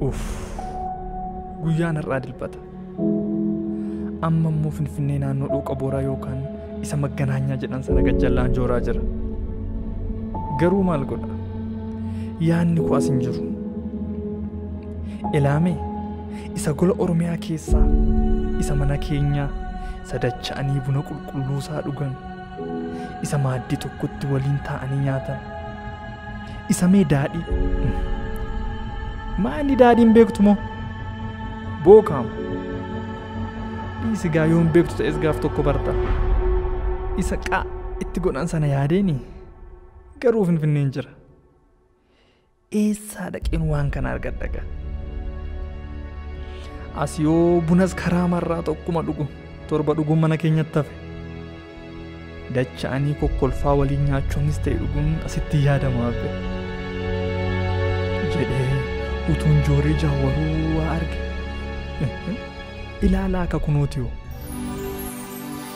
Uff, guyyaan har'aa dilbata. Amma immoo Finfinnee naannoo dhooqa booraa yookaan isa magganaanyaa jedhan sana gajjallaan jooraa jira. Garuu maal godha? Yaanni koo as hin jiru. Ilaamee isa gola Oromiyaa keessaa isa mana keenyaa isa dacha'anii buna qulqulluusaa dhugan isa maaddii tokkotti waliin taa'anii nyaatan isa mee daadhii maali daadhiin beektu moo bookaam dhiisi gaa yoon beektu ta'es gaaf tokko barta isa qaa itti godhan sana yaadeeni garuu finfinneen jira Eessaa dhaqeen waan kana argadha gaa? As yoo bunas karaa marraa tokkuma dhugu torba dhuguun mana keenyatti hafe. Dacha'anii kokkolfaa waliin nyaachuunis ta'e dhuguun asitti yaadama hafe. Jedhee utuun jooree jaawwaruu waa arge. Ilaalaa akka kunootiyoo.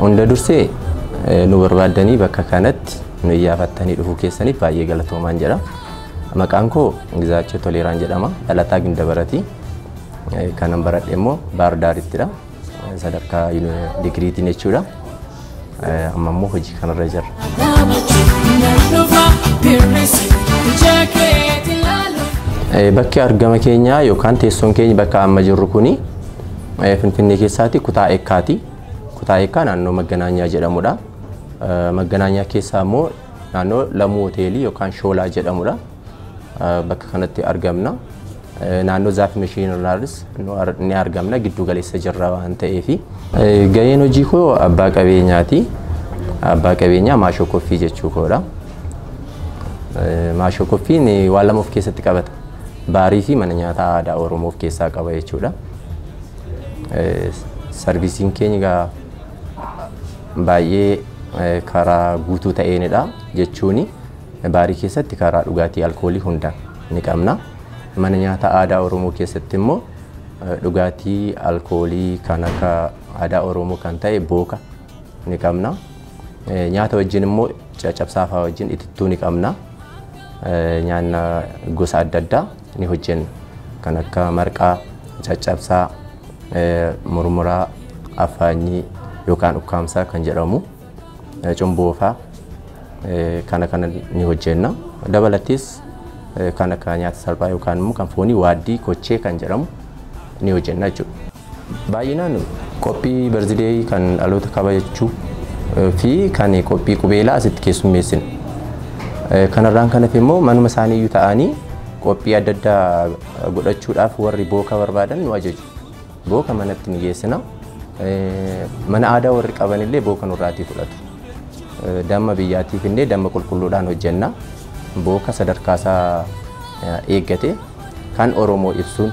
Hunda dursee nu barbaaddanii bakka kanatti nu iyyaafattanii dhufuu keessaniif baay'ee galatoomaan jedha. Maqaan koo Gizaachoo Toleeraan jedhama. Dhalataa Gindabarati. Kanan baradhe immoo Baar Daarittidha. Sadarkaa digiriitiin jechuudha. Amma immoo hojii kanarra jirra. Bakki argama keenyaa yookaan teessoon keenya bakka amma jirru kuni Finfinnee keessaati kutaa Ekkaati. Kutaa Ekkaa naannoo Magganaanyaa jedhamudha. Magganaanyaa keessaa immoo naannoo Lamuu Hoteelii yookaan Shoolaa jedhamudha. Bakka kanatti argamna. Naannoo Zaaf Mashiin irraanis ni argamna giddu galeessa jirra waan ta'eef. Gaheen hojii koo abbaa qabeenyaati. Abbaa qabeenyaa maashoo koffii jechuu koodha. Maashoo koffiin waan lama of keessatti qabata. Baarii fi mana nyaataa aadaa Oromoo of keessaa qaba jechuudha. Sarvisiin keenya egaa baay'ee karaa guutuu ta'eenidha jechuun baarii keessatti karaa dhugaatii alkoolii hunda ni qabna. Mana nyaataa aadaa Oromoo keessatti immoo dhugaatii alkoolii kan akka aadaa Oromoo kan ta'e booka ni qabna. Nyaata wajjin immoo caccabsaafaa wajjin itittuu ni qabna. Nyaanna gosa adda addaa ni hojjenna. Kan akka marqaa, caccabsaa, murmuraa, affaanyii yookaan ukkaamsaa kan jedhamu, cumboofaa kana kana ni hojjenna. Dabalatees kan akka nyaata salphaa yookaan immoo kan foonii waaddii kochee kan jedhamu ni hojjenna jechuudha. Baay'inaan qophii barzideeyii kan dhaloota kabajachuu fi kan qophii qubeelaa asitti keessummeessina. Kanarraan kan hafe immoo manuma isaanii iyyuu ta'anii qophii adda addaa godhachuudhaaf warri booka barbaadan nu ajaju. Booka manatti ni geessina. Mana aadaa warri qaban illee booka nurraatii fudhatu. Damma biyyaatiif illee damma qulqulluudhaan hojjenna. Booka sadarkaa isaa eeggate. Kan Oromoo ibsuun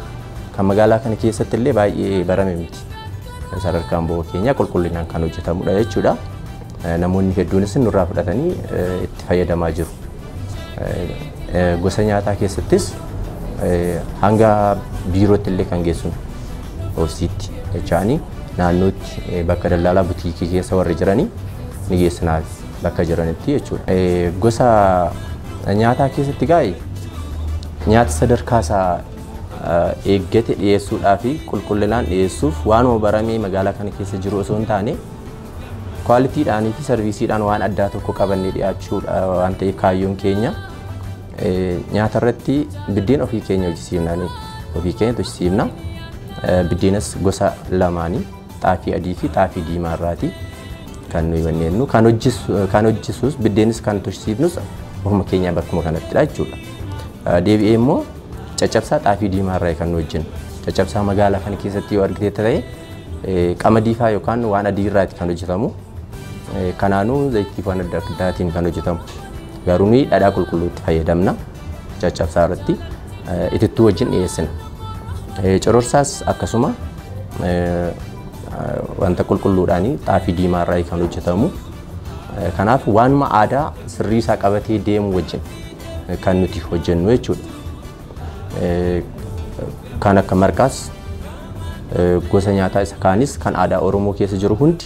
kan magaalaa kana keessatti illee baay'ee barame miti. Sadarkaan bo'oo keenyaa qulqullinaan kan hojjetamudha jechuudha. Namoonni hedduunis nurraa fudhatanii itti fayyadamaa jiru. Gosa nyaataa keessattis hanga biirootti illee kan geessinu oofsiitti jechaanii naannootti bakka daldalaa butiikii keessa warri jiranii ni geessinaaf bakka jiranitti jechuudha. Gosa nyaataa keessatti gaa'e Nyaata sadarkaa isaa eeggate dhiyeessuudhaa fi qulqullinaan dhiyeessuuf waanuma baramee magaalaa kana keessa jiru osoo hin taane kwaalitiidhaanii fi sarviisiidhaan waan addaa tokko qabannee dhiyaachuudha waan ta'eef kaayyoon keenya nyaata irratti biddeen ofii keenya hojjisiifna ofii keenya hojjisiifna biddeenas gosa lamaanii. xaafii adii fi xaafii diimaa irraati kan nuyi manneennu kan hojjisu kan hojjisuus biddeenis kan tursiifnus ofuma keenyaa bakkuma kanattidha jechuudha. Eh, Deebi'ee immoo caccabsaa xaafii diimaa irraa kan nu hojjennu caccabsaa magaalaa kana keessatti yoo argite ta'e eh, qamadii faa yookaan waan adii irraati kan hojjetamu Eh, kanaanuu zayitiif waan adda addaatiin kan hojjetamu garuu nuyi dhadhaa qulqulluutti fayyadamna. caccabsaa irratti itittuu wajjin dhiyeessina. Cororsaas akkasuma wanta qulqulluudhaan xaafii diimaa irraa kan hojjetamu. Kanaaf waanuma aadaa sirrii isaa qabatee deemu wajjin kan nuti hojjennu jechuudha. Kan akka marqaas gosa nyaataa isa kaanis kan aadaa Oromoo keessa jiru hundi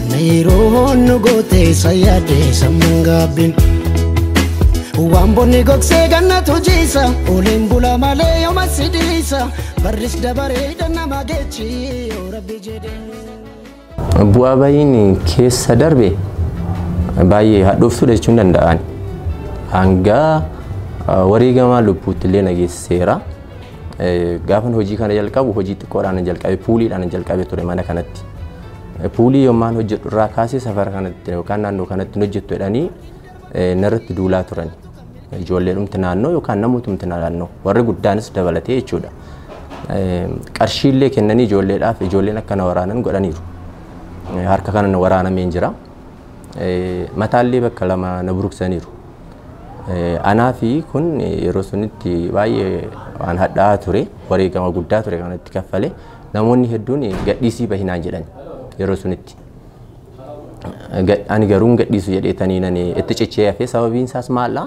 Miiroon nu gootee isa yaadee sammuun gaabbiin. Waan bonni gogsee gannatu jiisa Oliin bula malee yooma si dhiisa Barris dabaree dhannama geechi yoo rabbi jedhee. Bu'aa bayiin keessa darbe baay'ee hadhooftuudha jechuun danda'an. Hanga wareegamaa lubbuutti illee na geessiseera. Gaafan hojii kana jalqabu hojii xiqqoodhaan jalqabe puuliidhaan jalqabe ture mana kanatti. Puulii yommaan hojjedhu irraa kaasee safara kanatti yookaan naannoo kanatti hojjettu jedhanii narratti duulaa turan. Ijoolleedhumti naannoo yookaan namootumti naannoo warri guddaanis dabalatee jechuudha. Qarshiillee kennanii ijoolleedhaaf ijoolleen akka na waraanan godhaniiru. Harka kana na waraanameen jira. Mataallee bakka lama na buruksaniiru. Anaa fi kun yeroo sunitti baay'ee waan hadhaa'aa ture. Wareegama guddaa ture kanatti kaffalee. Namoonni hedduun gadhiisii bahi naan jedhan yeroo sunitti. Gad- Ani garuu hin gadhiisu jedheetanii nani itti cichee hafee sababiin isaas maal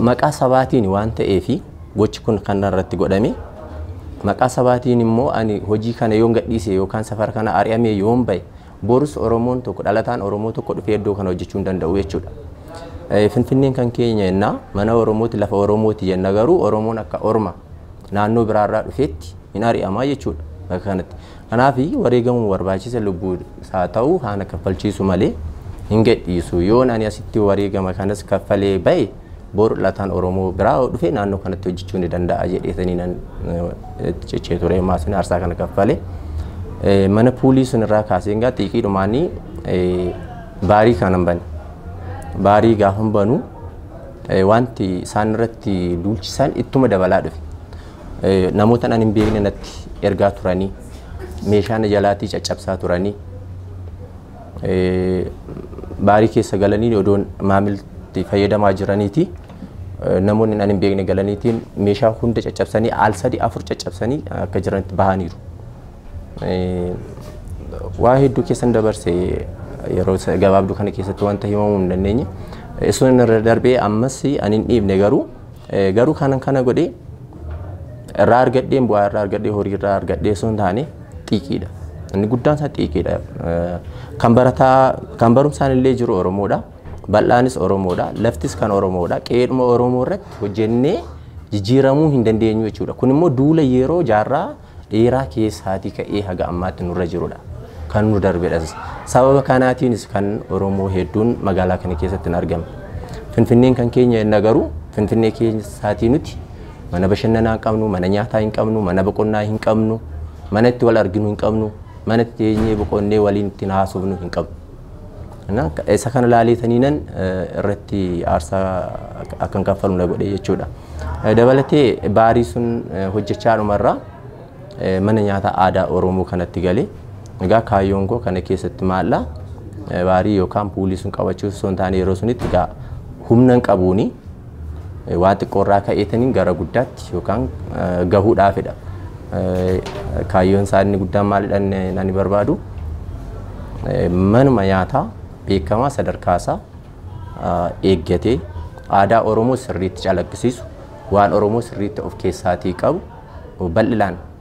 maqaa sabaatiin waan ta'eefi gochi kun kan irratti godhame maqaa sabaatiin immoo ani hojii kana yoon gadhiise yookaan safara kana ari'amee yoon bahe borus Oromoon tokko dhalataan Oromoo tokko dhufee iddoo kana hojjechuu hin danda'u jechuudha. Eh, Finfinneen kan keenya jennaa mana Oromooti lafa Oromooti jenna garuu Oromoon akka Orma naannoo biraa irraa dhufeetti hin ari'amaa jechuudha bakka kanatti. Kanaaf wareegamuu barbaachisa lubbuu isaa ta'u haana kaffalchiisu malee hin gadhiisu. Yoon ani asitti wareegama kanas kaffalee ba'e bor lataan Oromoo biraa yoo dhufe naannoo kanatti hojjechuu ni danda'a jedheetanii nan cichee ture maasin aarsaa kana kaffale. Mana puulii sun irraa kaasee egaa xiiqii dhumaanii baarii kanan bane. Baarii gaafan banu Wanti isaan irratti duulchisan ittuma dabalaa dhufe. Namoota nan hin beekne natti ergaa turanii meeshaa na jalaatii caccabsaa turanii baarii keessa galanii odoon maamilti fayyadamaa jiraniiti namoonni nan hin beekne galaniitiin meeshaa hunda caccabsanii al sadii afur caccabsanii akka jiranitti bahaniiru. Waa hedduu keessan dabarse yeroo gabaabduu kana keessatti wanta himamuu hin dandeenye. Sun irra darbee ammas ani hin dhiifne garuu garuu kanan kana godhe irraa argadheen bu'aa irraa argadhee horii irraa argadhee sun taane xiiqiidha. Inni guddaan isaa xiiqiidha. Kan barataa kan barumsaan illee jiru Oromoodha. Bal'aanis Oromoodha. Laftis kan Oromoodha. Qe'eedhuma Oromoo irratti hojjennee jijjiiramuu hin dandeenyu jechuudha. Kun immoo duula yeroo jaarraa dheeraa keessaatii ka'ee haga ammaatti nurra jirudha. Kan nu darbedhas. Sababa kanaatiinis kan Oromoo hedduun magaalaa kana keessatti hin argamne. Finfinneen kan keenya jenna garuu Finfinnee keessaatii nuti mana bashannanaa hin qabnu, mana nyaataa hin qabnu, mana boqonnaa hin qabnu, mana itti wal arginu hin qabnu, mana itti teenyee boqonnee waliin ittiin haasofnu hin qabnu. Na- Isa kana laaleetaniinan eh, irratti aarsaa ak- akkan kaffalu na godhe jechuudha. Eh, Dabalatee baarii sun eh, hojjechaa dhumarraa eh, mana nyaataa aadaa Oromoo kanatti galee egaa kaayyoon koo kana keessatti maalla baarii yookaan puulii sun qabachuu osoo hin taane yeroo sunitti egaa humna hin qabuuni. Waa xiqqoo irraa ka'eetaniin gara guddaatti yookaan gahuudhaafidha. Kaayyoon isaa inni guddaan maalidha nani barbaadu? Manuma nyaataa beekamaa sadarkaa isaa eeggatee aadaa Oromoo sirriitti calaqqisiisu waan Oromoo sirriitti of keessaatii qabu bal'inaan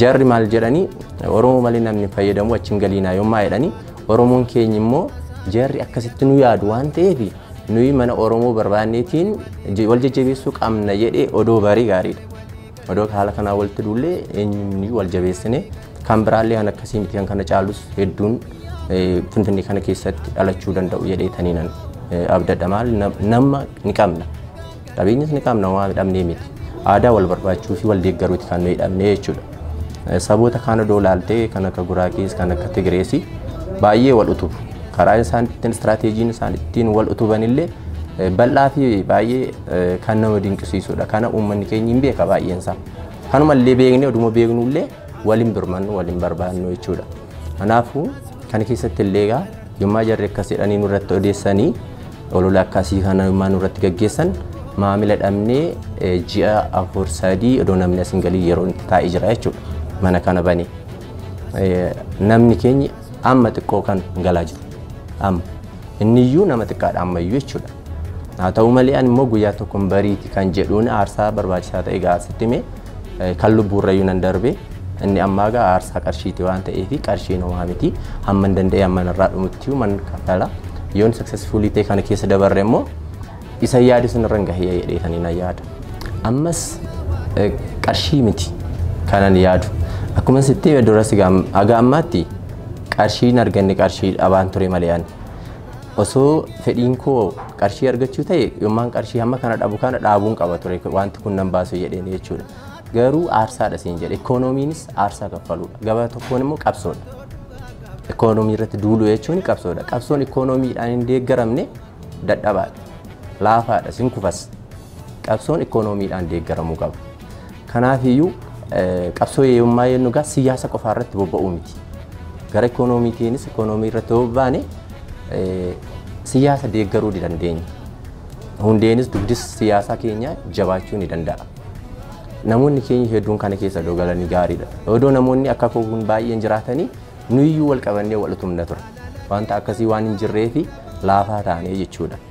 Jarri maal jedhanii Oromoo malee namni hin fayyadamu achi hin galiinaa yommaa jedhanii Oromoon keenya immoo jarri akkasitti nu yaadu waan ta'eef nuyi mana Oromoo barbaanneetiin je- wal jajjabeessuu qabna jedhee odoo barii gaariidha. Odoo haala kanaa walitti duullee eenyuun wal jabeessine kan biraallee kan akkasii miti kan kana caalus hedduun eh, Finfinnee kana keessatti dhalachuu danda'u jedhee taniinan abdadha maal nam- nama ni qabna. Qabeenyas ni qabna waan dhabnee miti. Aadaa wal barbaachuu fi wal deeggaruuti kan nuyi dhabnee jechuudha. Eh, Saboota kaan odoo laaltee kan akka Guraagees kan akka Tigirees baay'ee wal utubu. Karaa isaan ittiin istiraateejiin isaan ittiin wal utuban illee eh, bal'aa fi baay'ee eh, kan nama dinqisiisudha. Kana uummanni keenya hin beeka baay'een isaa. Kanuma illee beeknee oduma beeknu illee wal hin birmannu wal hin barbaannu jechuudha. Kanaafuu kana keessatti illee egaa yommaa jarri akkas jedhanii nurratti odeessanii olola akkasii kana yommaa nurratti gaggeessan maamila dhabnee eh, ji'a afur sadii odoo namni as hin galin yeroo itti taa'ee jira jechuudha. Mana kana bane. Eh, Namni keenya amma xiqqoo kan galaa jiru. Amma inni iyyuu nama xiqqaadha amma iyyuu jechuudha. Haa ta'u malee ani immoo guyyaa tokkoon bariiti kan jedhuun aarsaa barbaachisaa ta'e gaasitti himee Kan lubbuurrayyuu nan darbe inni ammaa gaa aarsaa qarshiiti waan ta'eef qarshiin homaa miti hamman danda'e hamman irraa dhumutti man kaffala yoon successfulii ta'e kana keessa dabarre immoo isa yaade sun irra gahee jedhee kan na yaada. Ammas qarshii miti kanan yaadu akkuma sitti duras haga ammaatti qarshiin arganne qarshii dhabaan ture malee ani osoo fedhiin koo qarshii argachuu ta'e yommaan qarshii hamma kana dhabu kana dhaabuun qaba ture wanti kun nan baasu jedheen jechuudha. Garuu aarsaadha siin jedhe ikoonomiinis aarsaa kaffaluudha gabaa tokkoon immoo qabsoodha. Ikoonomii irratti duuluu jechuun qabsoodha. Qabsoon ikoonomiidhaan hin deeggaramne dadhabaadha. Laafaadha sin kufas. Qabsoon ikoonomiidhaan deeggaramuu qaba. Kanaafiyyuu qabsoo yeeyummaa yennu gaa siyaasa qofaa irratti bobba'uu miti. Gara ikoonomiitiinis ikoonomii irratti bobbaane siyaasa deeggaruu ni dandeenya. Hundeenis dugdis siyaasaa keenya jabaachuu ni danda'a. Namoonni keenya hedduun kana keessa odoo galanii gaariidha. Odoo namoonni akka koo kun baay'een jiraatanii nuyiyyuu wal qabannee wal utumna ture. Wanta akkasii waan hin jirree fi laafaa taanee jechuudha.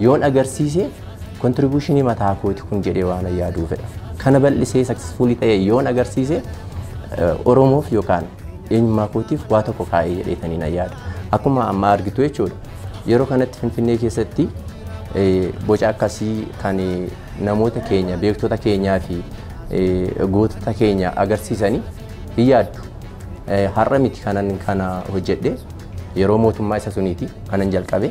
Yoon agarsiise kontribuushinii mataa kooti kun jedhee waan yaaduu fedha. Kana bal'isee saksesfuulii ta'e yoon agarsiise Oromoof yookaan eenyummaa kootiif waa tokko kaa'ee jedheetanii na yaada. Akkuma amma argitu jechuudha. Yeroo kanatti Finfinnee keessatti boca akkasii kan namoota keenya beektota keenyaa fi gootota keenya agarsiisanii hin yaaddu. Har'a miti kanan kana hojjedhe. Yeroo mootummaa isa suniiti kanan jalqabe.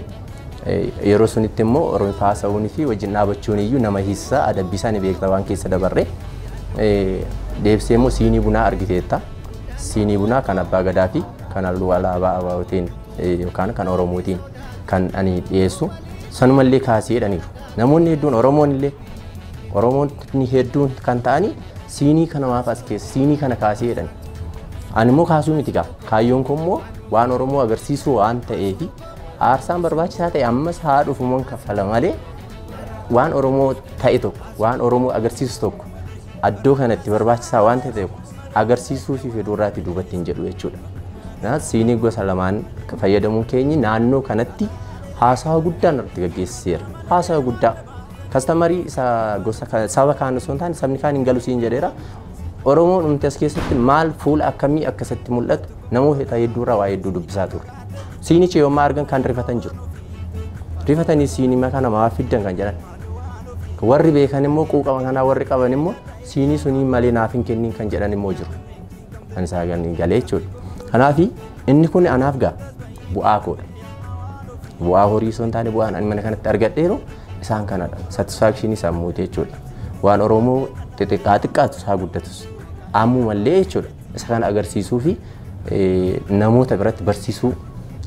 Yeroo sunitti immoo Oromiffaa haasa'uunii fi wajjin dhaabachuun iyyuu nama hiisisaa adabbiisaa ni beekta waan keessa dabarre. Deebisee immoo siinii bunaa argiteetta. Siinii bunaa kan abbaa gadaa fi kan halluu alaabaa abaawootiin yookaan kan Oromootiin kan ani dhiyeessu. Sanumallee kaasee jedhaniiru. Namoonni hedduun Oromoon illee Oromoonni hedduun kan ta'anii siinii kana maaf as keessa siinii kana kaasee jedhani. Ani immoo kaasuu miti gaa. Kaayyoon koo immoo waan Oromoo agarsiisuu waan ta'eef aarsaan barbaachisaa ta'e ammas haa dhufuman kaffala malee waan Oromoo ta'e tokko waan Oromoo agarsiisu tokko addoo kanatti barbaachisaa waan ta'e tokko agarsiisuu fi fedhuu irraatti duubatti hin jedhu jechuudha. Na siinii gosa lamaan fayyadamuun keenyi naannoo kanatti haasawa guddaa irratti gaggeessiseera. Haasawa guddaa kastamarii isa gosa saba kaan osoo hin taane sabni kaan hin galu siin jedheera. Oromoo dhumti as keessatti maal fuula akkamii akka isatti mul'atu namoota hedduu irraa waa hedduu dubbisaa turre. Siinicha yoommaa argan kan rifatan jiru. Rifatanii siinima kana maaf fiddan kan jedhan. Warri beekan immoo quuqama kanaa warri qaban immoo siinii sunii malee naaf hin kennin kan jedhan immoo jiru. Kan isaa galee jechuudha. Kanaaf inni kun anaaf gaa bu'aa koodha. Bu'aa horii osoo hin taane bu'aan ani mana kanatti argadheeru isaan kanadha. Satisfaakshinii sammuuti jechuudha. Waan Oromoo xixiqqaa xiqqaatu isaa guddatus ammumallee jechuudha. Isa kana agarsiisuu fi namoota biratti barsiisuu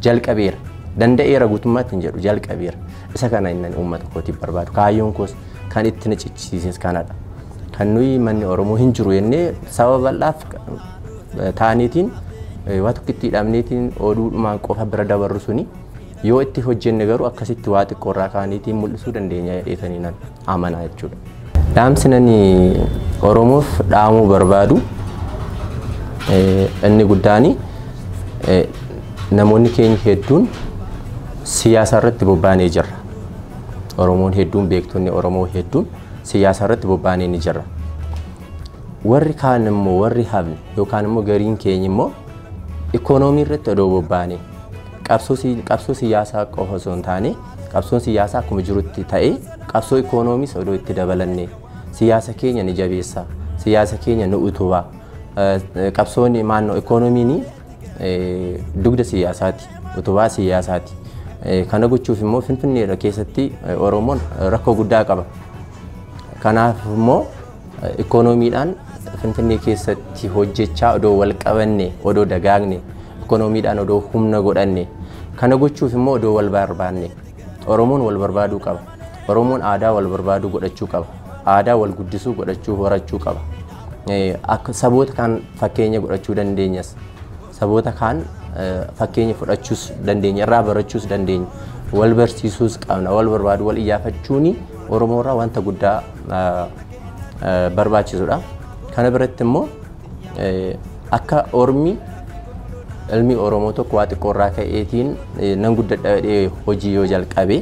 jalqabeera. Danda'eera guutummaatti hin jedhu jalqabeera. Isa kana inni uummata kootiif barbaadu. Kaayyoon koos kan itti na cichisiises kanadha. Kan nuyi manni Oromoo hin jiru jennee saba bal'aaf taaneetiin waa tokkitti hidhamneetiin oduudhumaan qofa bira dabarru suni Yoo itti hojjenne garuu akkasitti waa xiqqoo irraa kaaniitiin mul'isuu dandeenya jedheetanii nan amanaa jechuudha. Dhaamsi nani Oromoof dhaamuu barbaadu inni guddaan namoonni keenya hedduun siyaasa irratti bobbaanee jirra. Oromoon hedduun beektonni Oromoo hedduun siyaasa irratti bobbaanee ni jirra. Warri kaan immoo warri hafne yookaan immoo gariin keenya immoo ikoonoomii irratti odoo bobbaanee Qabsoo siyaasaa qofa osoo hin taane qabsoon siyaasaa akkuma jirutti ta'ee qabsoo ikoonomis odoo itti dabalanne siyaasa keenya ni jabeessa siyaasa keenya ni utuba qabsoon maannoo ikoonomiin dugda siyaasaati utubaa siyaasaati kana gochuuf immoo finfinnee keessatti oromoon rakkoo guddaa qaba kanaaf immoo Ikoonomiidhaan Finfinnee keessatti hojjechaa odoo wal qabanne, odoo dagaagne, ikoonomiidhaan odoo humna godhanne, kana gochuuf immoo odoo wal barbaanne. Oromoon wal barbaaduu qaba. Oromoon aadaa wal barbaaduu godhachuu qaba. Aadaa wal guddisuu godhachuu horachuu qaba. Akka saboota kaan fakkeenya godhachuu dandeenyas. saboota kaan fakkeenya fudhachuus dandeenya irraa barachuus dandeenya wal barsiisuus qabna wal barbaadu wal iyyaafachuun oromoo irraa wanta guddaa barbaachisudha kana biratti immoo akka ormi ilmi oromoo tokko waa xiqqoo irraa ka'eetiin nan guddadha jedhee hojii yoo jalqabe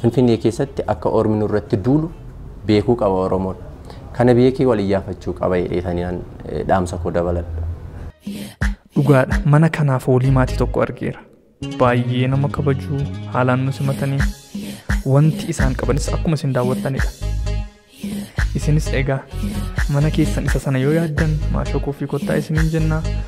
finfinnee keessatti akka ormi nurratti duulu beekuu qaba oromoon Kana beekee wal iyyaafachuu qaba jedheetanii an dhaamsa koo dabaladha. Dhugaadha mana kanaa foolii maatii tokko argeera. Baay'ee nama kabajuu haalaan nu simatanii wanti isaan qabanis akkuma isin daawwattanidha. Isinis egaa mana keessan isa sana yoo yaaddan maashoo kooffii kottaa isiniin jennaa